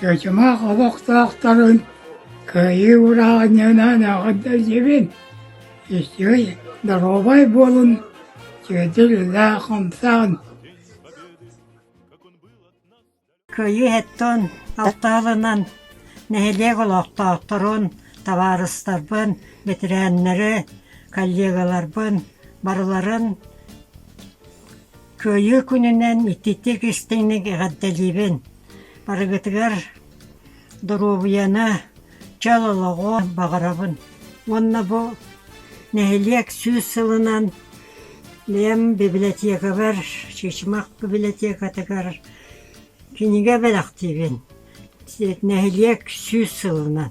Сэтимэх олохтоохторун кыайыы урааҕынньынан эҕэрдэлиибин! Истиэй, доруобай буолун, сиэдиллээх хамсаан! Кыайыы иһиттэн алта сылынан нэһилиэк олохтоохторун, табаарыстарбын, бэтэрээннэри, коллегаларбын барыларын Кыайыы күнүнэн ититик истиҥник эҕэрдэлиибин! Барыгытыгар доруобуйаны, Чөл олоҕуо баҕарабын уонна бу нэһилиэк сүүс сылынан бэйэм библиотекабар Чычымах библиотекатыгар кинигэ бэлэхтиибин нэһилиэк сүүс сылынан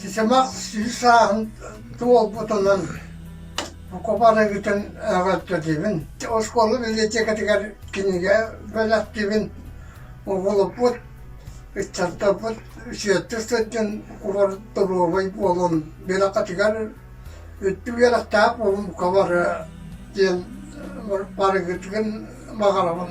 Сисимах сис сааһын туолбутунан око барыгытын эҕэрдэлиибин. Оскуола библиотекатыгар кинигэ бэлэхтиибин. Угулуппут ыччаттарбыт сиэттэ сылдьан кубарыт доруобай буолан биракатыгар үттү үөрэхтээх буолумукка бары диэн барыгытыгын баҕарабын.